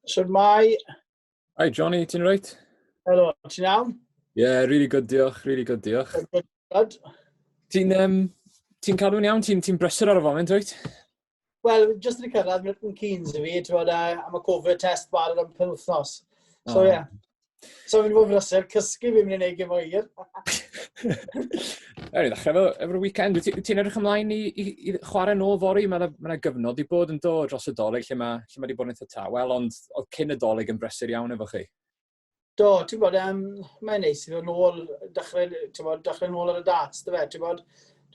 Sir Mai. Hi, Johnny, ti'n reit? Helo, ti'n iawn? Ie, yeah, really good, diolch, really good, diolch. Good, good. Ti'n um, ti cadw'n iawn, ti'n ti brysur ar y foment, reit? Wel, just yn y cyrraedd, Milton Keynes i fi, ti'n bod, uh, am y COVID test barod am penwthnos. So, ie. Oh. Yeah. So fi'n bod brysur, cysgu fi'n mynd i'n ei gym o hir. Ewn i ddechrau efo, efo'r weekend. Wyt ti'n ti edrych ymlaen i, i, i chwarae nôl fori? Mae yna ma gyfnod i bod yn dod dros y doleg lle mae, lle mae wedi bod yn eitha tawel, ond oedd cyn y doleg yn brysur iawn efo chi. Do, ti'n bod, um, mae'n neis i ddod ôl, dechrau, ti'n bod, dechrau ôl ar y dats, dy fe, ti'n bod,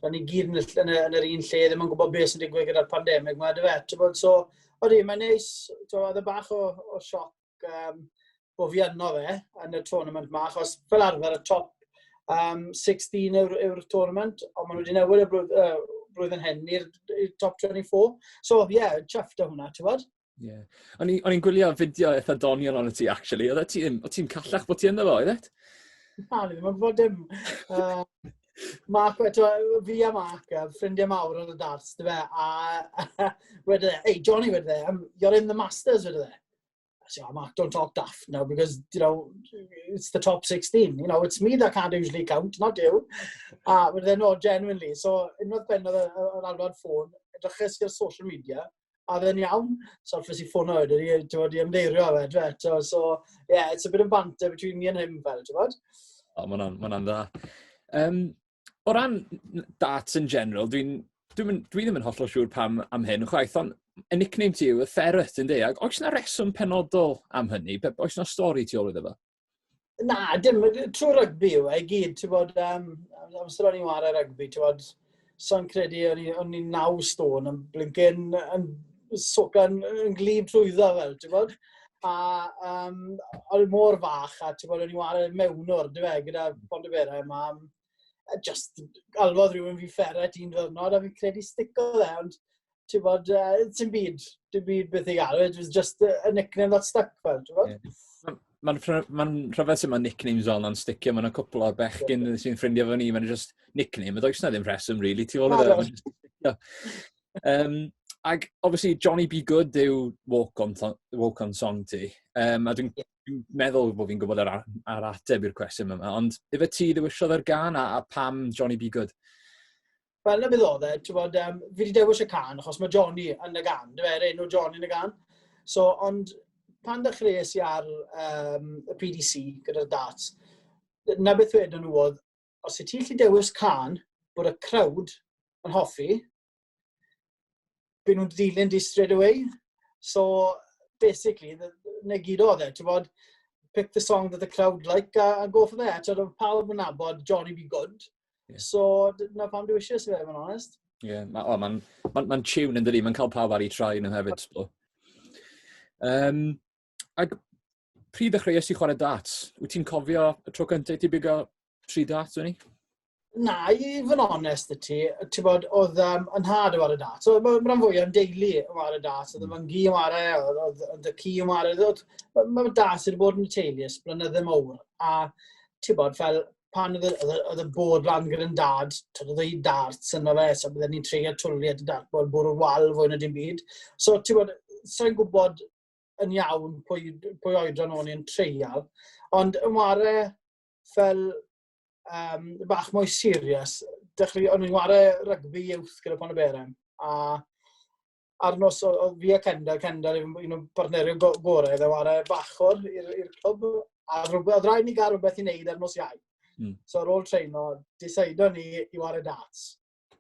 ti'n ni gyd yn, yn, yn, yr un lle, ddim yn gwybod beth sy'n digwydd gyda'r pandemig, mae dy fe, ti'n bod, so, oeddi, mae'n neis, ti'n bod, oedd y e bach o, o sioc um, o fi yno fe yn y tournament ma, achos fel arfer y top um, 16 yw'r yw tournament, ond maen nhw wedi newid y blwydd, uh, blwyddyn hyn i'r top 24. So, ie, yeah, chuffed o hwnna, ti'n bod? Ie. Yeah. O'n i'n gwylio fideo eitha doniol o'n ti, actually. Oedd e ti'n ti callach bod ti ynddo fo, oedd et? Na, ni ddim yn gwybod dim. Uh, Mark, eto, fi a Mark, ffrindiau mawr o'n y darts, dy fe, a wedyn e, hey, Johnny wedyn e, you're in the Masters wedyn e. So oh, Mark, don't talk daft now because you know it's the top 16. You know, it's me that can't usually count, not you. Uh, but then no, genuinely. So unwaith ben oedd yr alwad ffôn, edryches i'r social media, a dde'n iawn. So ffys i ffôn oed, i wedi ymdeirio fe, dwi eto. So yeah, it's a bit of banter between me and him fel, ti'n bod? O, oh, mae'n dda. Um, o ran darts yn general, dwi'n dwi, dwi ddim yn hollol siŵr pam am hyn chwaith, ond y nickname ti yw y ferret yn deag. Oes yna reswm penodol am hynny? Oes yna stori ti ôl iddo fo? Na, dim, trwy rygbi yw e i gyd, ti'n bod, um, amser o'n i'n wario rygbi, ti'n bod, so'n credu o'n i'n naw stôn yn blincyn yn socan yn glib trwyddo fel, ti'n bod? a um, oedd e mor fach, a ti'n bod, o'n i wario mewn o'r, dwi fe, gyda Bond y Bera, a mam, a just alwodd rhywun fi fferet i'n ddyrnod, a fi'n credu stico dde, ond ti'n bod, uh, ti'n byd, ti'n byd beth i gael, it was just a, a nickname that stuck, fel, ti'n bod? Yeah. Mae'n ma rhyfedd sut mae nicknames fel yna'n sticio, mae'n cwpl o'r bechgyn sy'n ffrindio fo ni, mae'n just nickname, a does na ddim rheswm, really, ti'n fawr o dda. Um, ac, obviously, Johnny B. Good yw Walk On, walk on Song ti. Um, a dwi'n yeah. dwi meddwl bod fi'n gwybod ar, ar ateb i'r cwestiwn yma. Ond, efe ti ddewisiodd yr gan a, a pam Johnny B. Good? Wel, na beth oedd e, ti'n bod, um, fi wedi dewis y can, achos mae Johnny yn y gan, dwi'n meddwl, enw Johnny yn y gan. So, ond pan ddechreuais i ar um, y PDC gyda'r darts, na beth wedyn nhw oedd, os y ti'n lli dewis can bod y crowd yn hoffi, byd nhw'n ddilyn di straight away. So, basically, na gyd oedd e, ti'n bod, pick the song that the crowd like a, a go for that. Ti'n bod, pawb yn nabod Johnny Be Good. Yeah. So, na pam dwi eisiau sef, yn honest. Ie, yeah, mae'n oh, ma, ma, ma tune yn dydi, mae'n cael pawb ar ei trai nhw hefyd. Um, ac Pryd ddechreuais i chwarae darts? Wyt ti'n cofio y tro cyntaf i ti bigo tri darts, Wini? Na, i fod yn onest y ti, ti bod, oedd um, yn had o ar y dat. So, mae'n rhan fwy o'n deulu o ar y dat, oedd y fy ngi o ar e, oedd y ci o ar e, mae dat sydd wedi bod yn y teulu ys blynydde mowr. A ti bod, fel pan oedd y bod lan gyda'n dad, tyd oedd ei darts yna fe, so byddwn ni'n treigio twli at y dart bod bwrw wal fwy na dim byd. So, ti bod, sa'n gwybod yn iawn pwy, pwy oedran o'n i'n treial. Ond yn ware fel um, bach mwy serius, dechrau, o'n i'n ware rygbi youth gyda Pon y Beren. A ar nos o, o fi a Kendall, Kendall yw un o'n partnerion go gorau, dde ware bachwr i'r clwb. A rhywbeth, rhaid ni gael rhywbeth i wneud ar nos iau. Mm. So ar ôl treino, disaido ni i ware darts.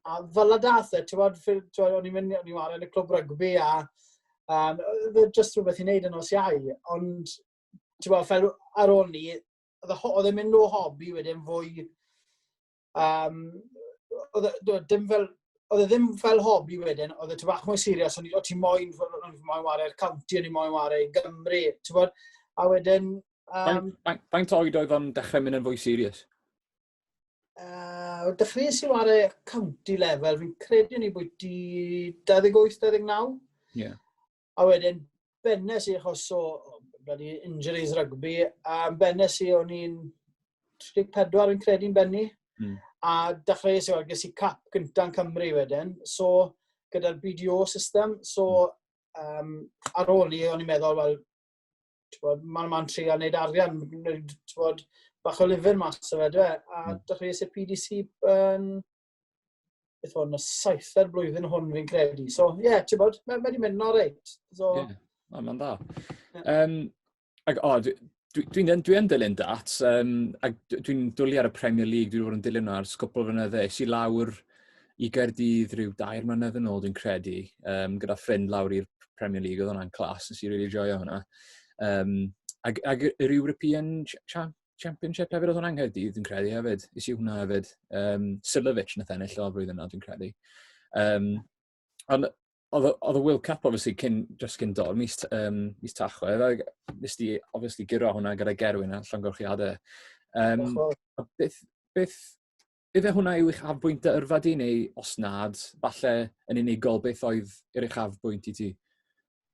a fel a dath e, ti'n bod, o'n i'n mynd, o'n i'n wario yn y clwb rygbi a um, oedd e just rhywbeth i wneud yn os iau, ond ti'n bod, fel ar ôl ni, oedd e'n mynd o hobi wedyn fwy, um, oedd e ddim fel, oedd e ddim fel hobi wedyn, oedd e ti'n bach mwy serius, o'n i moyn, o'n i moyn wario'r county, o'n i moyn wario i Gymru, ti'n bod, a wedyn... Um, Faint oed oedd o'n dechrau mynd yn fwy serius? Uh, dechreuais i ar y county level, fi'n credu ni bwyty 28-29. Yeah. A wedyn, bennes i achos o bloody injuries rugby, a bennes i o'n i'n 34 yn credu'n benni. Mm. A dechreuais i o'r ges i cap gyntaf Cymru wedyn. So, gyda'r BDO system, so um, ar ôl ni, o'n i'n meddwl, wel, Tywod, maen nhw'n trio wneud arian, tywod, bach o lyfr mas o fe, dwi. A hmm. dych chi eisiau PDC yn... Beth hwn, y saitha'r blwyddyn hwn fi'n credu. So, ie, yeah, ti'n bod, mae wedi mynd yn o'r reit. So... Yeah, mae'n dda. Um, ac, o, oh, Dwi'n dwi, dwi dilyn dat, um, a dwi'n dwlu ar y Premier League, dwi'n bod yn dilyn nhw ar sgwpl fynydde. Es i lawr i Gaerdydd rhyw dair mlynedd yn ôl dwi'n credu, um, gyda ffrind lawr i'r Premier League, oedd hwnna'n clas, nes i rili really joio hwnna. Um, ag, ag yr European Championship hefyd, oedd hwnna'n Nghaerdydd, dwi'n credu hefyd. Is i hwnna hefyd. Um, Silovic na thennill o'r flwyddyn yna, dwi'n credu. Um, ond oedd y World Cup, obviously, cyn, dros cyn dod, mis, um, mis tachwedd, a nes di, obviously, gyro hwnna gyda Gerwyn a llongorchiadau. Um, beth, beth, Ife hwnna yw eich afbwynt dy yrfa di, neu os nad, falle yn unigol, beth oedd yr eich afbwynt i ti?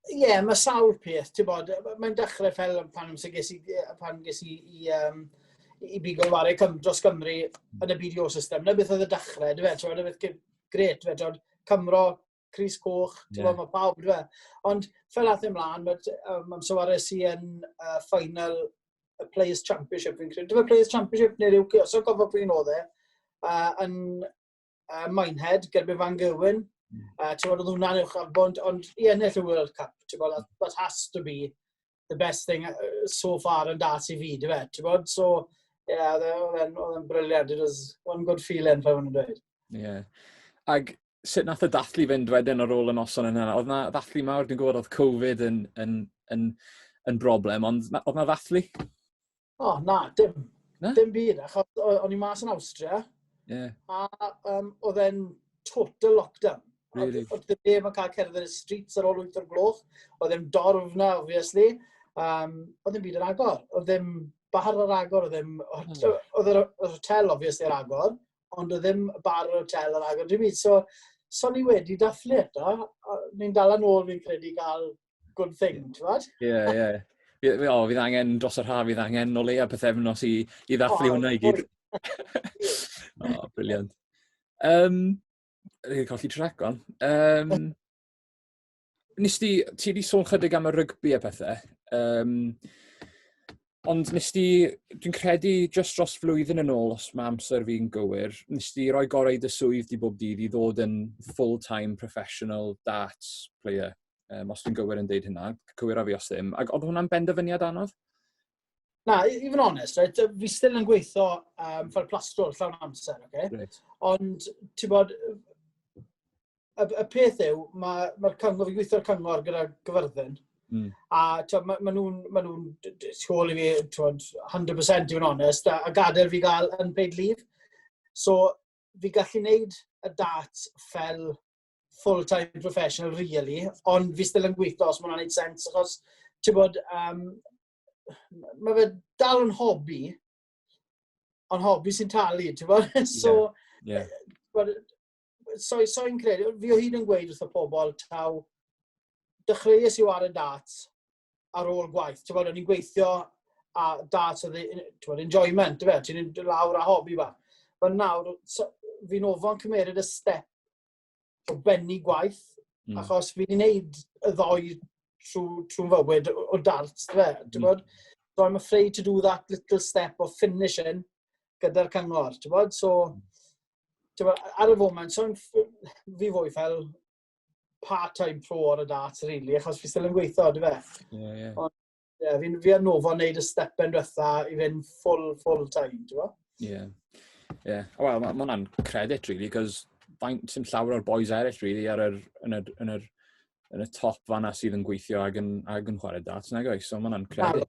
Ie, yeah, mae sawl peth, ti'n bod, mae'n dechrau fel pan amser ges i, pan ges i, i, um, i bigo wario cym, dros Gymru yn y BDO system, na beth oedd y dechrau, dwi'n fe, ti'n bod, gret, fe, ti'n Cymro Cris Coch, ti'n yeah. gwybod, mae pawb, dwi e. Ond fel ath e mlaen, mae um, amser war es i yn uh, final y Players Championship, fi'n credu. Dwi'n Players Championship neu'r UK, os o'n gofod pwy'n oedd e, uh, yn uh, Minehead, gyda Van Gerwyn. Uh, ti'n gwybod, oedd hwnna'n uwch ar bwnt, ond i ennill y World Cup, ti'n gwybod, that, that has to be the best thing uh, so far yn das i fi, dy fe, ti'n bod? So, ie, yeah, oedd e'n e, briliant. It was one good feeling, fe hwn yn dweud. Ie. Yeah. Ag sut nath y dathlu fynd wedyn ar ôl y noson yna? Oedd na ddathlu mawr, dwi'n gwybod oedd Covid yn, yn, yn, yn broblem, ond oedd na ddathlu? O, oh, na, dim. Na? Dim byd, achos o'n i mas yn Austria. Yeah. A um, oedd e'n total lockdown. Really? Oedd ddim neb yn cael cerdded y streets ar ôl 8 o'r gloch. Oedd ddim dorf na, obviously. Um, oedd ddim byd yn agor. Oedd ddim bar ar agor. Oedd ddim... Hmm. Oedd yr hotel, obviously, ar agor. Ond oedd ddim bar ar hotel ar agor. Dwi'n mynd, so, so ni wedi dathlu eto. Ni'n dal yn ôl, fi'n credu, gael good thing, ti'n fawr? Ie, ie. O, fydd angen dros yr haf, fydd angen o leia pethefnos i, i ddathlu oh, hwnna i gyd. o, oh, briliant. Um, Rwy'n colli trac o'n. Um, nes ti, ti wedi sôn chydig am y rygbi a pethau. Um, Ond nes di, dwi'n credu, just dros flwyddyn yn ôl, os mae amser fi'n gywir, nes di roi gorau dy swydd di bob dydd i ddod yn full-time professional darts player, um, os dwi'n gywir yn deud hynna, cywir a fi os ddim. Ac oedd hwnna'n benderfyniad anodd? Na, i fod yn onest, right, fi still yn gweithio um, fel plastrol llawn amser, okay? Right. Ond, ti'n bod, y, y peth yw, mae ma cyngor, fi'n gweithio'r cyngor gyda gyfyrddin, Mm. A ma, ma nhw'n ma nhw siol i fi, twod, 100% i fod yn onest, a, a gadael fi gael yn paid leave. So, fi gallu neud y dat fel full-time professional, really, ond fi still yn gweithio os mae'n gwneud sens, achos, ti'n bod, um, mae fe dal yn hobi, ond hobi sy'n talu, ti'n bod? so, yeah. Yeah. so, so i'n credu, fi o hyd yn gweud wrth y pobl, taw, dechreuais i war y dat ar ôl gwaith. Ti'n bod, o'n i'n gweithio a dat oedd yn enjoyment, fe, ti'n mynd lawr a hobi fa. Fe nawr, so, fi'n ofon cymeryd y step o benni gwaith, mm. achos fi'n gwneud y ddoi trwy, trwy fywyd o dart, fe, ti'n mm. bod? So I'm afraid to do that little step of finishing gyda'r cyngor, ti'n bod? So, mm ar y foment, so'n fi fwy fel part-time pro ar y dart, really, achos fi still yn gweithio, dwi fe? Ie, yeah, ie. Yeah. Ond, yeah, fi, fi ar nofo wneud y step yn diwetha i fynd full, full time, dwi fe? Ie. Yeah. Ie. Yeah. Wel, mae ma hwnna'n credit, really, cos faint sy'n llawer o'r boys eraill, really, ar yr, yn, yr, yn, yr, yn y top fanna sydd yn gweithio ag yn, ag yn chwarae dart, nag oes? So mae hwnna'n credit.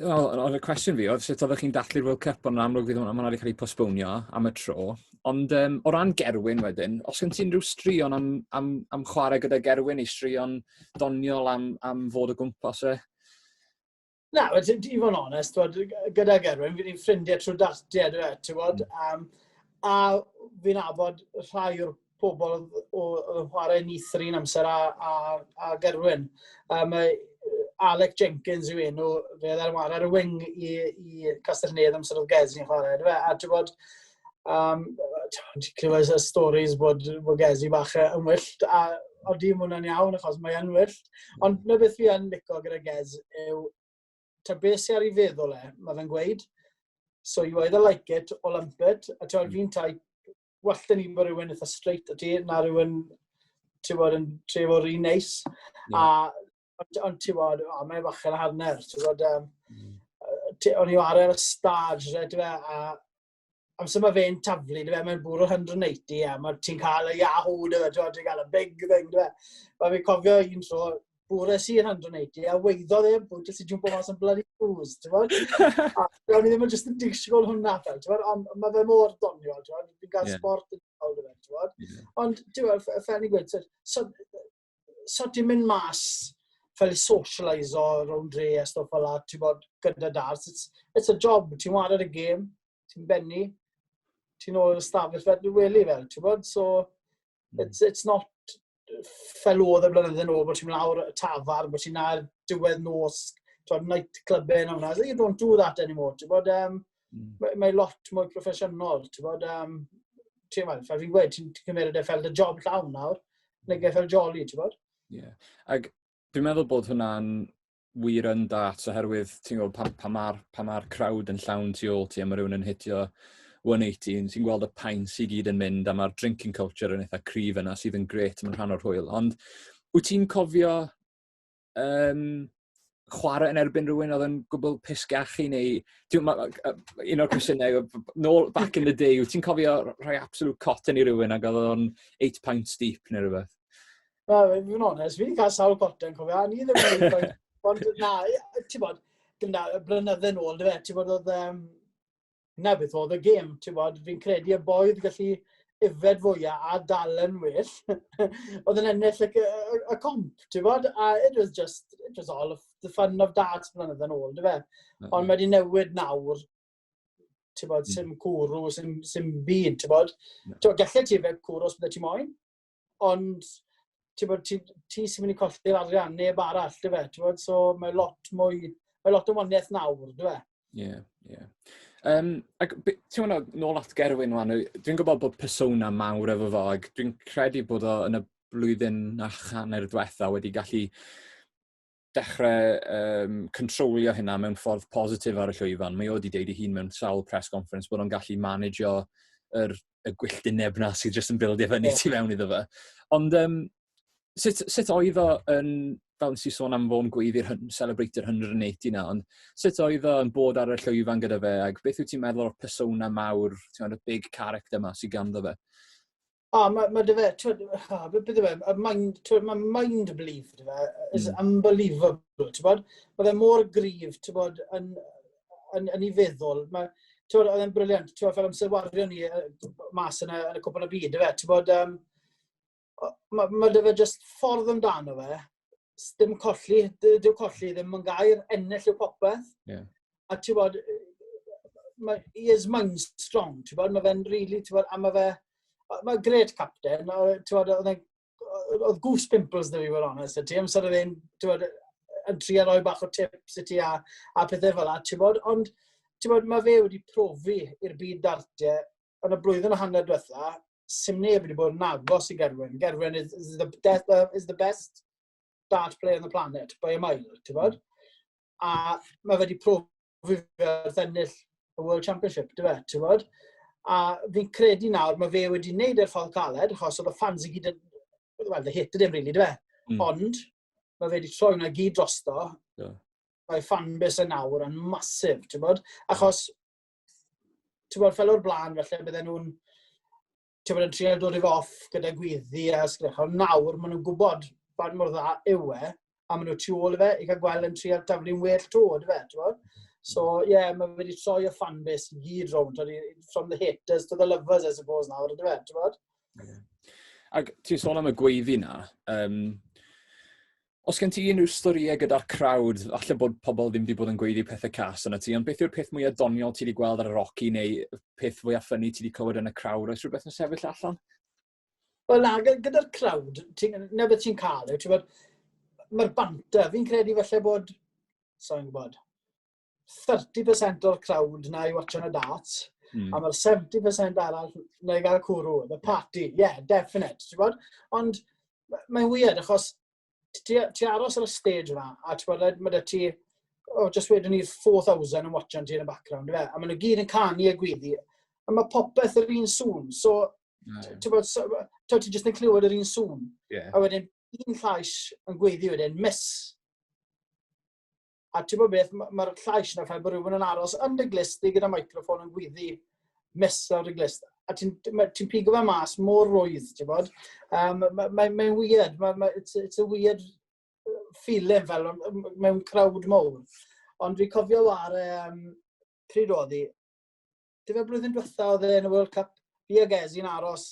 Wel, oedd y cwestiwn fi oedd sut oeddech chi'n dathlu'r World Cup, ond yn amlwg fydd hwnna wedi cael ei postponio am y tro. Ond um, o ran Gerwyn wedyn, os gen ti unrhyw straeon am, am, am chwarae gyda Gerwyn, ei straeon doniol am, am fod o gwmpas e? Na, well, ti'n ti fod yn onest, bod, gyda Gerwyn, fi'n ffrindiau trwy dartiau, dwi e, ti'n bod, um, a fi'n abod rhai o'r pobl oedd yn chwarae Nithri yn amser a, a, a Gerwyn. Um, Alec Jenkins yw enw, fe oedd ar wario ar y wing i, i Castellnedd amser oedd Gez yn chwarae. Fe, a ti'n bod, um, ti'n clywed y stories bod, bod Gez i bach yn wyllt, a o di mwynhau'n iawn achos mae yn wyllt. Ond na beth fi yn licio gyda Gez yw, ta beth sy'n ar ei feddwl e, mae fe'n gweud, so you either like it or lump it, a ti'n mm. fi'n tai well da ni bod rhywun eitha straight o ti, na rhywun, ti bod, yn tref o'r un neis. Yeah. A, ond, on, ti bod, o, mae'n bach yn harner, ti bod, um, mm. o'n i o ar yr ystad, ti fe, a amser mae fe'n taflu, fe, mae'n bwrw 180 a mae ti'n cael y yahoo, fe, ti'n cael y big thing, fe. Mae fi'n cofio un tro, bore si yn handro neud i, a weiddo ddim, bod jyst i jumpo mas yn bloody blues, ti'n bod? a gawn ni ddim yn jyst yn disgwyl hwnna fel, ti'n bod? Ond mae fe mor doniol, ti'n bod? Fi'n gael yeah. sport yn cael gyda, ti'n bod? Yeah. Ond, ti'n bod, fel ni'n gweud, so, so ti'n mynd mas fel i socialise o rown dre a stwff fel la, ti'n bod, gyda dars. It's, it's a job, ti'n wad ar y gêm, ti'n benni, ti'n ôl y stafell fel dwi'n weli fel, ti'n bod? So, Hmm. It's, it's not fel oedd y blynyddoedd yn ôl, bod ti'n lawr y tafar, bod ti'n ar diwedd nos, ti'n night club yn hwnna. You don't do that anymore. Ti'n bod, um, mm. mae, mae lot mwy proffesiynol. Ti'n bod, um, ti'n bod, fel fi'n gweud, ti'n cymryd e fel dy job llawn nawr, neu mm. fel jolly, ti'n bod? Ie. Yeah. Ac dwi'n meddwl bod hwnna'n wir yn da, oherwydd ti'n gwybod pan, pan mae'r pa ma crowd yn llawn tu ôl ti a mae rhywun yn hitio 180, ti'n gweld y pain sy'n gyd yn mynd a mae'r drinking culture yn eitha cryf yna sydd yn gret, mae'n rhan o'r hwyl. Ond wyt ti'n cofio um, chwarae yn erbyn rhywun oedd yn gwbl pisgach i neu un o'r cwestiynau nôl back in the day, wyt ti'n cofio rhoi absolute cotton i rywun ac oedd o'n 8 pounds deep neu rhywbeth? Na, fi'n fod onest, fi wedi cael sawl gorten, cofio, a ni ddim yn gwneud, ond na, ti'n bod, gyda blynydde yn ôl, dwi fe, ti'n bod, oedd, um, na beth oedd y gêm, ti'n bod, fi'n credu y boi oedd gallu yfed fwyaf a dal yn well, oedd yn ennill y, y, y comp, ti'n bod, a it was just, it was all of the fun of darts blynydde yn ôl, dwi fe. Ond mae wedi newid nawr, ti'n bod, sy'n hmm. cwrw, sy'n byd, ti'n bod. Ti'n bod, gallu ti fe cwrw os bydde ti moyn, ond ti'n bod, ti, ti sy'n mynd i colli'r arian, neb arall, ti'n fe? Ti'n bod, so mae lot mwy, mae lot o waniaeth nawr, ti'n fe? Ie, ie. Um, ac ti'n mynd nôl at Gerwyn wan, dwi'n gwybod bod persona mawr efo fo, ac dwi'n credu bod o yn y blwyddyn a channer diwetha wedi gallu dechrau um, controlio hynna mewn ffordd positif ar y llwyfan. Mae o wedi deud i hun mewn sawl press conference bod o'n gallu managio yr, y gwylltineb na sydd jyst yn bildio fyny yeah. ti mewn iddo fe. Ond um, sut, sut oedd o yn, fel nes i sôn am fo'n gweiddi'r celebrator 180 na, ond sut oedd o yn bod ar y llwyfan gyda fe, ac beth wyt ti'n meddwl o'r persona mawr, ti'n meddwl, y big character ma sydd ganddo fe? O, mae ma dy fe, twyd, beth yw e, y mind, twyd, mae mind belief, dy fe, is mm. unbelievable, ti'n bod? Mae fe mor grif, ti'n bod, yn, yn, yn ei feddwl. Mae, ti'n bod, oedd e'n briliant, ti'n bod, fel amser wario ni mas yn y, yn y cwpl o byd, dy fe, ti'n bod, um, mae ma dy fe just ffordd amdano fe, dim colli, dyw colli ddim yn gair, ennill yw popeth. Yeah. A ti'n bod, mae, he is mind strong, ti'n bod, mae fe'n really, ti'n bod, a mae fe, mae gred capten, ti'n bod, oedd e'n oedd goose pimples dda fi fod onest y ti, amser oedd e'n, ti'n bod, yn tri a roi bach o tips i ti a, a pethau fel la, ti'n bod, ond, ti'n bod, mae fe wedi profi i'r byd dartiau yn y blwyddyn a hanner diwetha, sy'n neb wedi bod yn agos i Gerwyn. Gerwyn is, is, the, death, uh, is the best dart player on the planet, by a mile, ti'n bod? Mm. A mae wedi profi fe wrth ennill y World Championship, ti'n bod? Ti'n bod? A fi'n credu nawr, mae fe wedi wneud e'r ffordd caled, achos oedd y fans i gyd yn... Wel, the hit ydym, really, ti'n Mm. Ond, mae fe wedi troi hwnna gyd drosto. Yeah. Mae fan bus yn awr yn masif, ti'n bod? Achos ti'n gwybod, fel o'r blaen, felly bydden nhw'n ti'n gwybod, yn trio dod i fo off gyda gwyddi a sgrech. Ond nawr, maen nhw'n gwybod faint mor dda yw e, a maen nhw tu ôl i fe, i cael gweld yn trio daflu'n well to, dy fe, ti'n gwybod? So, ie, yeah, mae wedi troi y fanbase i gyd rownd, from the haters to the lovers, I suppose, nawr, dy fe, ti'n gwybod? Ac ti'n sôn am y gweiddi na, um, Os gen ti unrhyw storïau gyda'r crowd, falle bod pobl ddim wedi bod yn gweiddi pethau cas yna ti, ond beth yw'r peth mwyaf doniol ti wedi gweld ar y roci neu peth fwyaf ffynnu ti wedi clywed yn y crowd? Oes rhywbeth yn sefyll allan? Wel na, gyda'r crowd, na beth ti'n cael yw, ti'n bod, mae'r banter, fi'n credu falle bod, sa'n gwybod, 30% o'r crowd na i watch on a dart, mm. a mae'r 70% arall na i gael cwrw, the party, yeah, definite, ti'n bod? Ond mae'n weird, achos ti, ti aros ar y stage yma, a ti'n bod, mae da ti, oh, just wedyn ni'r 4,000 yn watch on ti yn y background, fe? a maen nhw gyd yn canu a gwyddi, a mae popeth yr un sŵn, so, mm. ti'n bod, so, ti'n just yn clywed yr un sŵn, yeah. a wedyn un llais yn gwyddi wedyn, miss, A ti'n bod beth, mae'r llais yna fel bod rhywun yn aros yn dy glist di gyda microfon yn gwyddi mesur dy glist. A ti'n ti pigo fe mas mor rwydd, ti'n bod. Um, Mae'n ma, ma weird, ma, ma, it's, it's a weird uh, feeling fel mewn crowd mowr. Ond fi cofio war, um, pryd oedd hi, Dyfa blwyddyn diwetha oedd e yn y World Cup, fi ag Ezi'n aros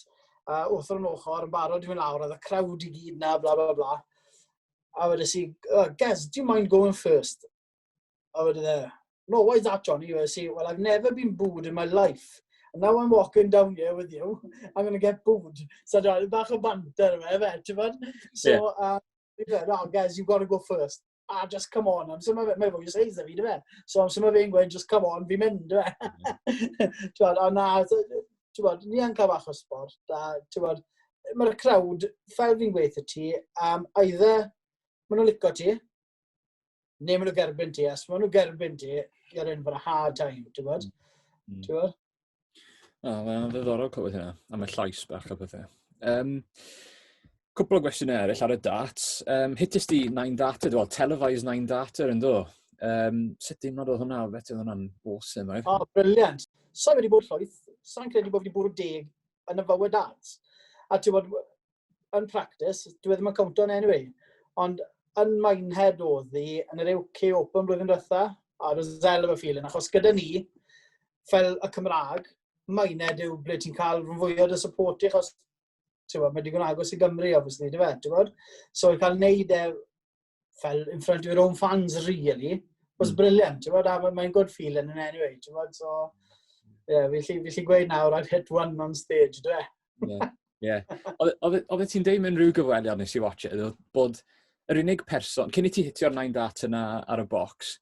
uh, wrth o'r ochr, yn barod i mynd lawr, oedd y crowd i gyd na, bla bla bla. A wedi si, oh, Gez, do you mind going first? A wedi e, no, why is that, Johnny? Wedi si, well, I've never been booed in my life. And now I'm walking down here with you, I'm going to get booed. So, Johnny, bach o banter fe, fe, ti'n bod? So, yeah. uh, no, Gez, you've got to go first. a just come on, amser mae, mae fwy o seis da fi, dyfe? So amser mae fe'n gweud, just come on, fi'n mynd, dyfe? Ti'n a na, ti'n bod, ni yn cael bach o sport, a ti'n bod, mae'r crowd, fel fi'n gweithio ti, um, either maen nhw'n licio ti, neu maen nhw gerbyn ti, a os maen nhw gerbyn ti, you're in for a hard time, ti'n bod? Mm. Ti'n bod? O, mae'n ddiddorol clywed hynna, a mae llais bach a pethau. Um, cwpl o gwestiynau eraill ar y dat. Um, hitys di Nine Data, dwi'n televised Nine Data yn do. Um, sut dim nod oedd hwnna, beth oedd hwnna'n awesome, right? O, oh, briliant. Sa'n wedi bod llwyth, sa'n credu bod wedi bwrw deg yn y bywyd arts. A ti'n bod, yn practis, dwi e ddim yn cwnt o'n anyway, ond yn Minehead oedd hi yn yr UK Open blwyddyn diwetha, a roedd zel efo ffilin, achos gyda ni, fel y Cymraeg, Minehead yw ble ti'n cael rhan fwy o'r support i, achos ti'n bod, mae digon agos i Gymru, obviously, dy fe, ti'n bod? So, i cael neud e fel in front of your own fans really was mm. brilliant, ti'n bod, a mae'n good feeling in any way, ti'n bod, so, ie, yeah, fi lli gweud nawr, I've hit one on stage, dwi e? Ie, ie. Oedd ti'n deud mewn rhyw gyfweliad nes i watch it, oedd bod yr unig person, cyn i ti hitio'r 9 dat yna ar y box,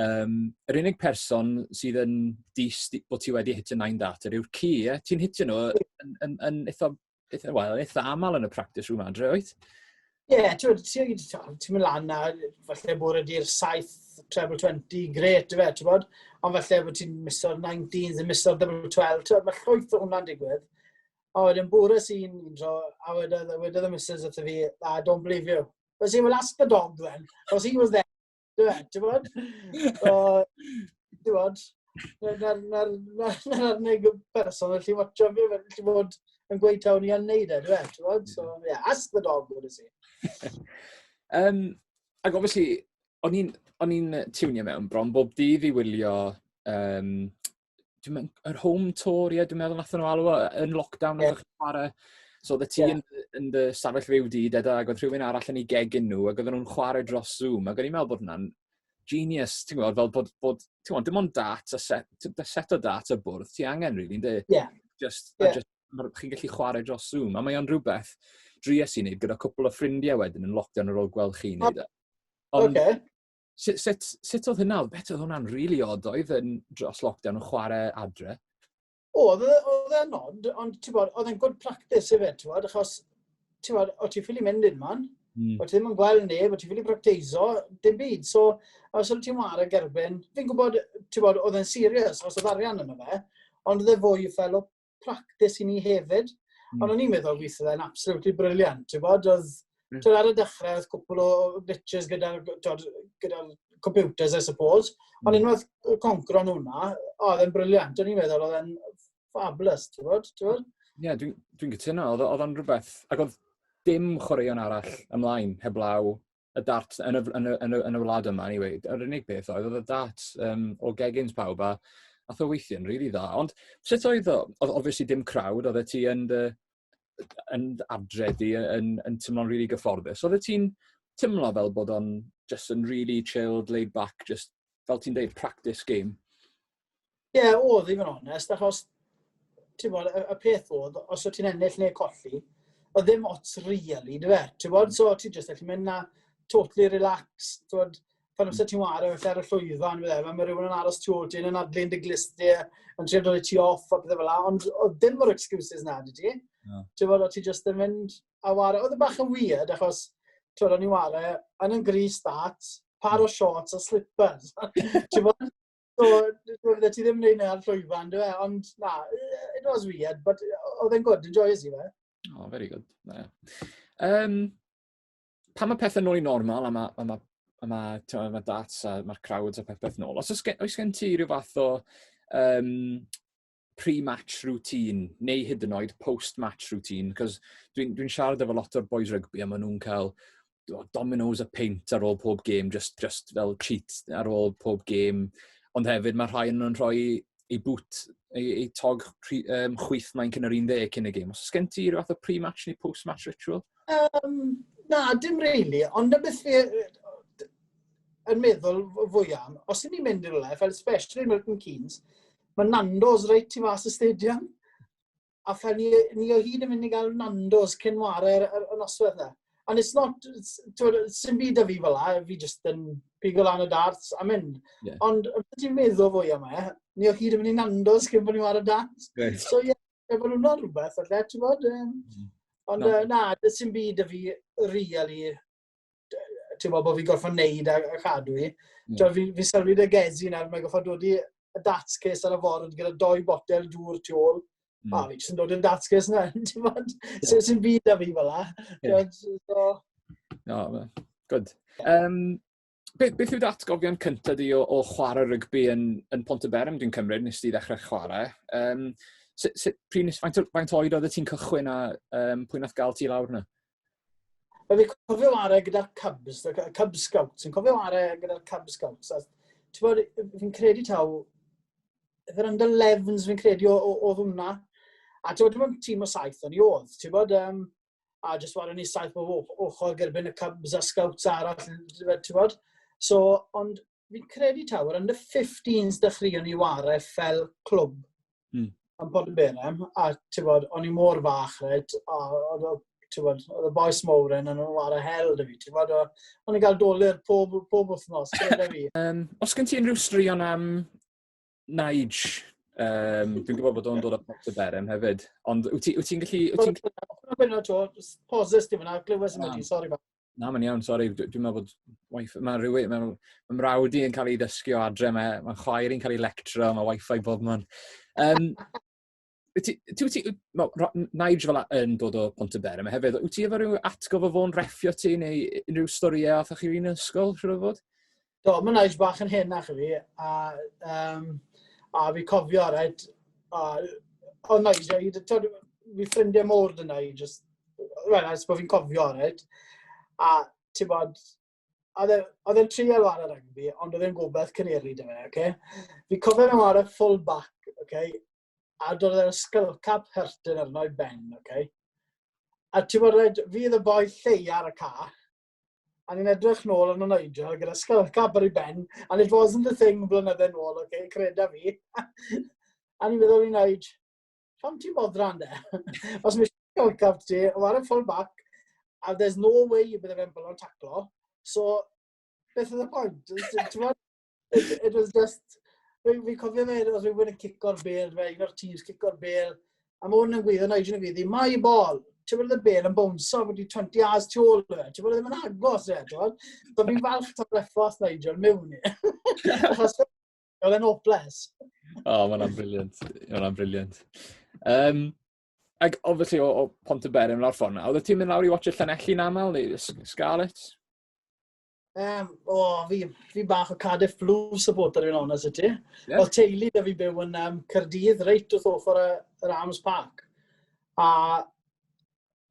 um, yr unig person sydd yn dis bod ti wedi hitio 9 dat yw'r ci, ie? Ti'n hitio nhw yn, yn, yn, yn eitha eitha, well, eitha aml yn y practice room adre, oed? Ie, yeah, ti'n mynd lan na, falle bod ydy'r 7 treble 20, gret, fe, ti'n bod? Ond falle bod ti'n miso'r 19s, yn miso'r double 12, ti'n bod, mae llwyth o hwnna'n digwydd. A wedyn bwrw sy'n un tro, a wedodd, wedodd y missus wrtho fi, ah, don't believe you. But he will ask the dog then, because he was there Ti'n bod? Ti'n bod? Na'r unig person yn lli watcho fi, mae'n lli bod yn gweud tawn i yn neud e, dwi'n bod? So, yeah, ask the dog, what is it? um, ac obviously, o'n i'n tiwnio mewn bron bob dydd i wylio um, dwi'n mynd, yr home tour, ie, dwi'n meddwl nath nhw alw yn lockdown, yeah. chi'n chwarae. So, oedd y ti yeah. yn, yn dy safell fyw di, deda, ac oedd rhywun arall yn ei gegin nhw, ac oedden nhw'n chwarae dros Zoom, ac o'n i'n meddwl bod hwnna'n genius, ti'n gwybod, fel bod, bod ti'n gwybod, dim ond dat, a set, da set o dat y bwrdd, ti angen rili, really, ynddi? Yeah. Just, yeah. just chi'n gallu chwarae dros Zoom, a mae o'n rhywbeth dries i wneud gyda cwpl o ffrindiau wedyn yn lockdown ar ôl gweld chi'n neud e. Ond, okay. sut, sut, sut oedd hynna? Oedd beth oedd hwnna'n rili really odd, oedd yn dros lockdown yn chwarae adre? O, oedd e, e'n odd, ond ti'n bod, oedd e'n good practice i fe, ti'n bod, achos, ti'n bod, o ti'n ffili mynd i'r man, mm. o ti ddim yn gweld neb, o ti'n ffili practeiso, dim byd. So, os oedd ti'n war ag erbyn, fi'n gwybod, ti'n bod, oedd e'n serious, os oedd arian yna fe, ond oedd e fwy fel o practis i ni hefyd. Mm. Ond o'n i'n meddwl weithio dda'n absolutely briliant. Ti'n bod, oedd... Mm. Ar y dechrau, oedd cwpl o glitches gyda'r gyda computers, I suppose. Mm. Ond unwaith concro nhw hwnna, oedd e'n briliant. O'n i'n meddwl, oedd e'n fabulous, ti'n bod? Ie, yeah, dwi'n dwi, dwi cytuno. Oedd o'n rhywbeth... Ac oedd dim chwaraeon arall ymlaen heblaw y darts yn y, yn y, yn y, yn y wlad yma, anyway, yr unig beth oedd, oedd y darts um, o gegins pawb a ath o weithio'n rili really dda. Ond sut oedd o? Oedd obviously dim crowd, oedd e ti yn dy, yn adredu, yn, yn, yn teimlo'n rili really gyfforddus. Oedd e ti'n teimlo fel bod o'n just yn really chilled, laid back, just fel ti'n deud, practice game? Ie, yeah, oedd i fod yn onest, achos ti'n bod, y, y peth oedd, os o't ti'n ennill neu colli, oedd ddim ots really, dwi fe? Ti'n bod, so ti'n just allu mynd na totally relaxed, ti'n bod, pan amser ti'n wario felly ar y llwyfan, fe, fe, mae rhywun yn aros tu ôl ti'n yn adlu'n dy glisti, yn trio dod i ti off a bethau fel la, ond oedd dim o'r excuses na, dwi ti? No. Ti'n bod, o ti just yn mynd a wario, oedd y e bach yn weird, achos, ti'n bod, o'n i wario, yn yn gris dat, par o shorts a slippers. ti'n bod, So, oedde ti ddim yn neud ar llwyfan, dwi e? Ond na, it was weird, but oedd e'n good, enjoyers i fe. Oh, very good. Yeah. Um, pan mae pethau nôl i normal, a mae, a mae, a mae, a mae dats a mae'r crowds a peth peth nôl, os oes gen, oes gen ti rhyw fath o um, pre-match routine neu hyd yn oed post-match routine, cos dwi'n dwi, siarad efo lot o'r boys rygbi a maen nhw'n cael dominoes a peint ar ôl pob gêm, just, just fel cheat ar ôl pob gêm. Ond hefyd mae rhai nhw'n rhoi ei bwt, ei, ei tog pri, um, chwyth mae'n cyn yr 11 cyn y gêm. Os ysgen ti rhywbeth fath o pre-match neu post-match ritual? Um, na, dim really, ond na beth fi yn meddwl fwy am, os ydyn ni'n mynd i'r le, fel especially Milton Keynes, Mae Nando's reit i fas y stadium. A fel ni, ni o hyd yn mynd i gael Nando's cyn ware'r y, y noswaith na. And it's not, sy'n byd o fi fel la, fi jyst yn pigo lan y darts a mynd. Yeah. Ond beth ti'n meddwl fwy am e, ni o hyd yn mynd i Nando's cyn bod ni ware'r darts. Right. So ie, yeah, e bod nhw'n rhywbeth, falle, ti'n bod? Um, mm. Ond no. uh, na, sy'n byd o fi, really, ti'n gwybod bod fi'n gorfod wneud a, a chadw i. Mm. Ti'n fi'n fi sylwi dy gezi nawr, mae'n gorfod dod i y datscus ar y ffordd gyda doi botel dŵr tu ôl. Mm. A fi jyst yn dod yn datscus na, ti'n bod? Yeah. Sy'n byd a fi fel la. Yeah. So... No, good. Um, beth, beth yw dy atgofion cynta di o, o chwarae rygbi yn, yn Pont y Berem, dwi'n cymryd, nes ti ddechrau chwarae. Um, sut, sut, pryn, faint, faint oed oedd y ti'n cychwyn a um, pwy nath gael ti lawr yna? Fe fi cofio arau gyda'r Cubs, y Cub Scouts, yn cofio arau gyda'r Cub Scouts. Ti'n bod, fi'n credu taw, efo'r under 11s fi'n credu oedd hwnna. A ti'n bod, dim ond tîm o saith o'n i oedd. Ti'n bod, um, a jyst wario ni saith bob ochr gyda byn y cubs a scouts arall, ti'n bod? So, ond fi'n credu tawr, yn y 15s dechreuon ni ware fel clwb mm. yn bod yn berem, a ti'n bod, o'n i mor fach, red, a oedd oedd y boes mowr yn nhw'n ware hel dy fi, ti'n bod, o'n i'n cael dolyr pob, pob wythnos, gyda fi. Um, os gen ti unrhyw straeon am Nige, um, dwi'n gwybod bod o'n dod o Port y Berem hefyd, ond wyt ti'n ti gallu... Wyt ti'n gallu... Gwna to, pauses di fyna, glywes yn ydi, sori fa. Na, mae'n iawn, sori, dwi'n meddwl bod... Wife, mae rhywun, mae, mae mrawd i yn cael ei ddysgu o adre, mae, mae chwaer i'n cael ei lectro, mae wifi bob man. Um, Wyt ti, ti, wyt ti, no, Nige fel yn dod o Pont y Ber, mae hefyd, wyt ti efo rhyw atgof o fo'n reffio ti neu unrhyw storiau oedd chi yn ysgol, siwr o fod? Do, mae Nige bach yn hyn ach fi, a, um, a fi cofio, right, a, o Nige, i dod, fi ffrindiau môr dyn Nige, just, right, a bod fi'n cofio, right, a ti'n bod, oedd e, oedd e'n trial ar yr rygbi, ond oedd e'n gobeith cyneri dy fe, oce? Fi cofio nhw ar y full back, oce? A dod e'r skull cap hyrtyn arno i ben, oce? A ti'n bod, fi fydd y boi llei ar y ca, a ni'n edrych nôl yn y Nigel gyda skull cap ar ei ben, and it wasn't the thing blynydde nôl, oce, creda fi. a ni'n meddwl i wneud, pam ti'n bodran de? Os mae eisiau cyflcaf ti, o ar y full back, a there's no way you bydde fe'n bylon taclo, so beth oedd y pwynt? it, it was just, fi'n fi cofio fe, os fi'n gwneud cico'r bel, fe, un o'r teams cico'r bel, a mae hwn yn gwyddo, na i jyn yn gwyddi, mae bol, ti'n bod y bel yn bownso wedi 20 as tu ôl fe, ti'n bod ddim yn agos e, ti'n bod? So fi'n falch ta'r refos Nigel mewn i. Achos Oedd e'n obles. O, oh, mae'n briliant. Mae'n briliant. Um, ac obviously o, o Pont y Berin lawr ffordd na, oedd ti'n mynd lawr i watch y Llanelli'n aml neu Scarlett? Um, o, oh, fi, fi bach o Cardiff Blues supporter fi'n onest i ti. Yeah. Oedd teulu da fi byw yn um, Cyrdydd, reit wrth ochr y, yr Arms Park. A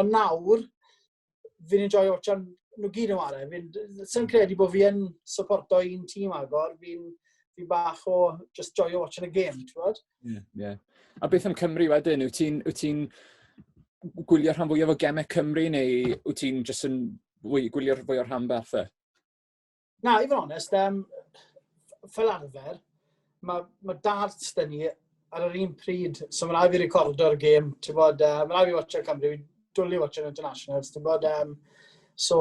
Ond nawr, fi'n enjoy watchan nhw gyd yn ware. Fi'n sy'n credu bod fi yn supporto un tîm agor, fi'n fi bach o just joio watching a game, ti'n bod? Ie, yeah, ie. Yeah. A beth am Cymru wedyn? Wyt ti'n ti gwylio rhan fwyaf o gemau Cymru neu wyt ti'n just yn fwy, gwylio'r fwy o'r rhan beth? Na, i fod yn onest, um, fel arfer, mae ma darts dyn ni ar yr un pryd, so mae'n rhaid fi recordo'r gêm, ti'n bod, uh, mae'n rhaid fi watcher Cymru, fi'n dwlu watcher internationals, ti'n bod, um, so,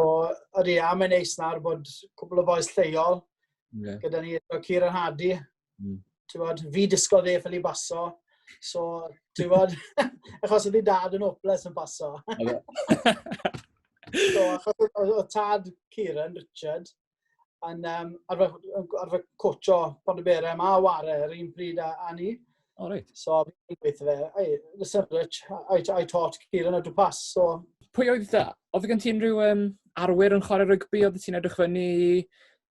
ydy, a mae'n neis nawr bod cwbl o boes lleol, yeah. gyda ni, Ciar a Hadi, Mm. Bod, fi disgwyl dde ffili baso, so, ti'n bod, achos oedd ei dad yn hopeless yn baso. so, achos oedd tad Kieran, Richard, yn um, arfer, arfer cocho Pontyberem a Ware yr un pryd a, a ni. O, oh, reit. So, fi'n gweithio fe, I, listen, Rich, I, I taught Kieran how to pass, so... Pwy oedd da? Oedd gen ti unrhyw um, arwyr yn chwarae rygbi? Oedd ti'n edrych fyny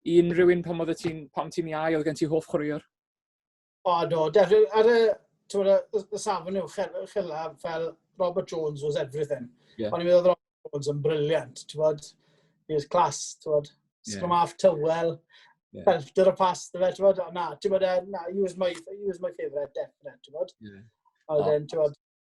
i unrhyw un pan oedd ti'n, pan ti'n iau, oedd gen ti hoff chwaraewr? O, do, definitely. Ar y, tywed, y, y safon yw, chylla, fel Robert Jones was everything. Yeah. Ond i'n meddwl Robert Jones yn briliant, ti'n bod? He was class, ti'n bod? Scrum yeah. half tywel, yeah. belter y pas, ti'n bod? Ti'n bod? Na, ti'n bod, e, na, he was my, he was my favourite, definite, ti'n bod? Yeah. Ond, oh. ti'n bod,